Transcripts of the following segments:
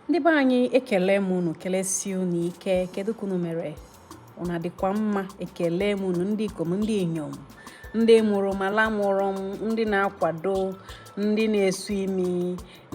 ndị be anyị ekele m unu kelesi unu ike kedu ka unu mere unu adịkwa mma ekele m unu ndị ikom ndị inyom ndị mụrụ m ala mụrụ m ndị na-akwado ndị na-esu imi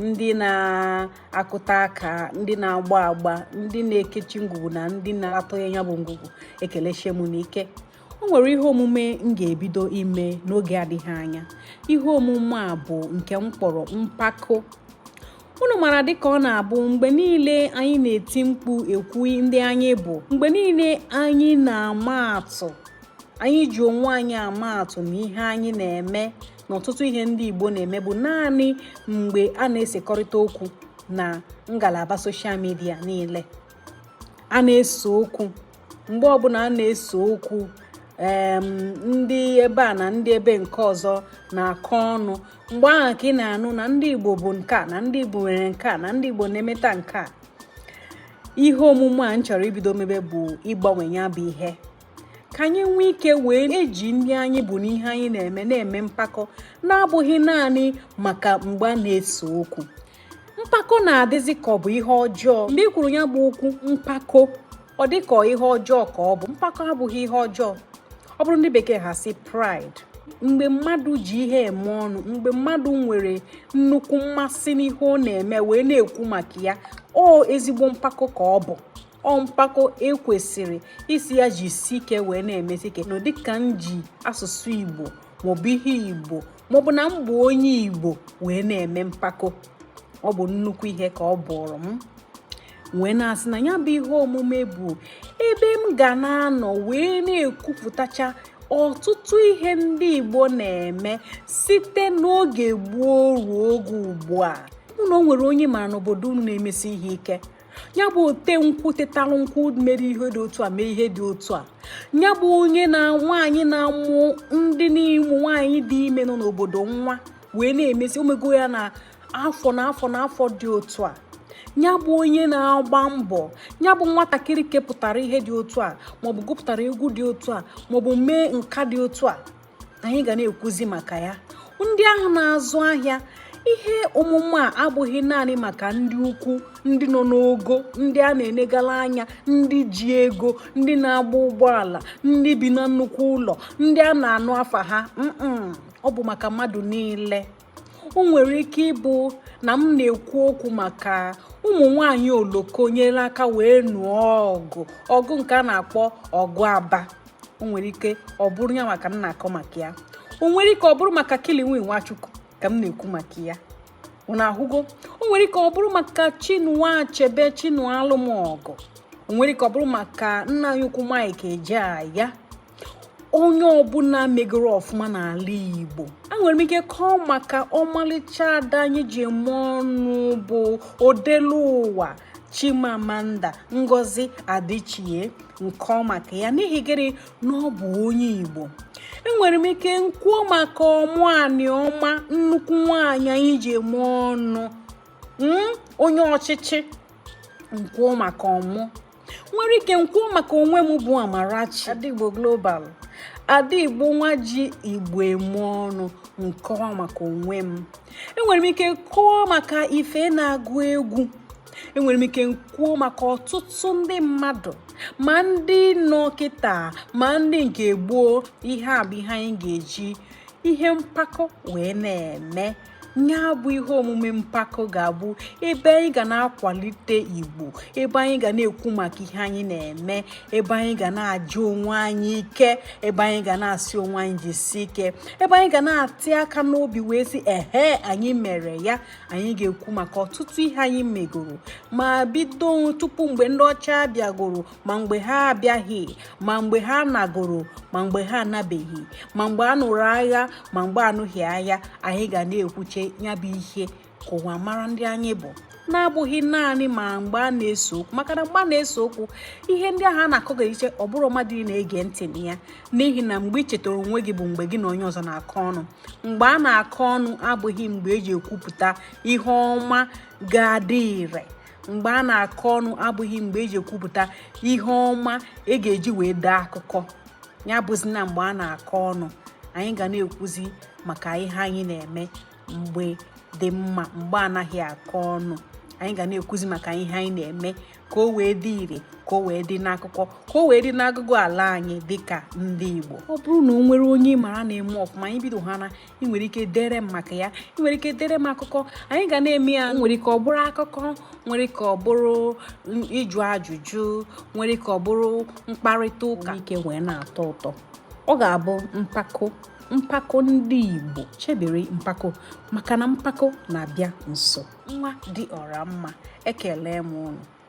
ndị na-akụta aka ndị na-agba agba ndị na-ekechi ngwugwu na ndị na-atọ ya bụ ngwugwu ekelesie m unu ike o nwere ihe omume m ga-ebido ime n'oge adịghị anya ihe omume a bụ nke m kpọrọ mpako unu mara dịka ọ na-abụ mgbe niile anyị na-eti mkpu ekwu ndị anyị bụ mgbe niile anyị na-ama atụ anyị ji onwe anyị ama atụ na ihe anyị na-eme na ọtụtụ ihe ndị Igbo na-eme bụ naanị mgbe a na-esekọrịta okwu na ngalaba soshal midia niile a na-ese okwu mgbe ọbụla a na-ese okwu ndị ebe a na ndị ebe nke ọzọ na-akọ ọnụ mgbe ahụ ka ị na-anụ na ndị Igbo bụ nke a na ndị Igbo nwere nke a na ndị Igbo na-emeta nke a ihe omume a m chọrọ ibido mebe bụ ịgbanwe ya bụ ihe ka anyị nwee ike wee na-eji ndị anyị bụ na ihe anyị na-eme na-eme mpako na-abụghị naanị maka mgbe a na-ese okwu mpako na-adịzi ka ọ bụ ihe ọjọọ mgbe ị kwuru ya bụ okwu mpako ọ dị ka ihe ọjọọ ka ọ bụ mpako abụghị ihe ọjọọ ọ bụrụ ndị bekee ha sị pride mgbe mmadụ ji ihe eme ọnụ mgbe mmadụ nwere nnukwu mmasị n'ihe ọ na-eme wee na-ekwu maka ya ọ ezigbo mpako ka ọ bụ ọ mpako e kwesịrị isi ya jisi ike wee na-emesi ike na dịka m ji asụsụ Igbo maọbụ ihe igbo maọbụ na m bụ onye igbo wee na-eme mpako ọ bụ nnukwu ihe ka ọ bụụrụ m wee na-asị na ya bụ ihe omume bụ ebe m ga na-anọ wee na-ekwupụtacha ọtụtụ ihe ndị igbo na-eme site n'oge gboo ruo oge ugbu a ọ bụrụ na o nwere onye mara n'obodo unu na-emesi ihe ike ya bụ ote nkwụ tetalụ nkwụ mere ihe dị otu a mee ihe dị otu a ya bụ onye na nwaanyị na-amụ ndị ụmụ nwaanyị dị ime nọ n'obodo nwa wee na-emesi o mego ya na afọ na afọ na afọ dị otu a ya bụ onye na-agba mbọ ya bụ nwatakịrị kepụtara ihe dị otu a maọbụ gụpụtara egwu dị otu a maọbụ mee nka dị otu a anyị ga na-ekwuzi maka ya ndị ahụ na-azụ ahịa ihe omume a abụghị naanị maka ndị ukwu ndị nọ n'ogo ndị a na-enegala anya ndị ji ego ndị na-agba ụgbọala ndị bi na nnukwu ụlọ ndị a na-anụ afa ha ọ bụ maka mmadụ niile o nwere ike ịbụ na m na-ekwu okwu maka ụmụ nwanyị Oloko nyere aka wee nụọ ọgụ ọgụ nke a na-akpọ ọgụ Aba o nwere ike ọ bụrụ ya maka m na-akọ maka ya o nwere ike ọ bụrụ maka Kiliwi Nwachukwu ka m na-ekwu maka ya unu ahụgo o nwere ike ọ bụrụ maka Chinua Achebe Chinualụmọgụ o nwere ike ọ bụrụ maka nna anyị ukwu Mike Ejeagha onye ọbụla megoro ọfụma n'ala Igbo enwere m ike kọọ maka ọmalịcha ada anyị ji eme ọnụ bụ Odeluwa Chimamanda Ngozi Adichie nkọọ maka ya n'ihi gịnị na ọ bụ onye Igbo enwere m ike nkwuo maka Ọmụ Anịọma nnukwu nwaanyị anyị ji eme ọnụ hmm, onye ọchịchị nkwuo maka Ọmụ nwere ike nkwuo maka onwe m bụ Amarachi Ada Igbo Global Ada Igbo nwa ji Igbo eme ọnụ nkọwa maka onwe m enwere m ike kọọ maka Ife na-agụ egwu enwere m ike kwuo maka ọtụtụ ndị mmadụ ma ndị nọ kịta ma ndị nke gboo ihe a bụ ihe anyị ga-eji ihe mpako wee na-eme ya bụ ihe omume mpako ga-abụ ebe anyị ga na-akwalite Igbo ebe anyị ga na-ekwu maka ihe anyị na-eme ebe anyị ga na-aja onwe anyị ike ebe anyị ga na-asị onwe anyị jisi ike ebe anyị ga na-atị aka n'obi wee sị ehe anyị mere ya anyị ga-ekwu maka ọtụtụ ihe anyị megoro ma bido tupu mgbe ndị ọcha bịagoro ma mgbe ha abịaghị ma mgbe ha nagoro ma mgbe ha anabeghị ma mgbe a nụrụ agha ma mgbe anụghị agha anyị ga na-ekwuche ya bụ ihe ka ụwa mara ndị anyị bụ na-abụghị naanị ma mgbe a na-ese okwu maka na mgbe a na-ese okwu ihe ndị ahụ a na-akọ ga iche ọ bụrụ mmadụ na-ege ntị na ya n'ihi na mgbe ị chetara onwe gị bụ mgbe gị na onye ọzọ na-akọ ọnụ mgbe a na-akọ ọnụ abụghị mgbe eji ekwupụta ihe ọma ga-adị ire mgbe a na-akọ ọnụ abụghị mgbe eji ekwupụta ihe ọma e ga-eji wee dee akụkọ ya bụzi na mgbe a na-akọ ọnụ anyị ga na-ekwuzi maka ihe anyị na-eme mgbe dị mma mgbe anaghị akọ ọnụ anyị ga na-ekwuzi maka ihe anyị na-eme ka o wee dị ire ka o wee dị n'akụkọ ka o wee dị n'agụgụ ala anyị dịka ndị Igbo ọ bụrụ na o nwere onye ị mara na-eme ọfụma anyị bido ha na ị nwere ike dere m maka ya ị nwere ike dere m akụkọ anyị ga na-eme ya nwere ike ọ bụrụ akụkọ nwere ike ọ bụrụ ịjụ ajụjụ nwere ike ọ bụrụ mkparịta ụka ka o wee na-atọ ụtọ ọ ga-abụ mpako mpako ndị Igbo chebere mpako maka na mpako na-abịa nso nwa dị ọra mma ekele m unu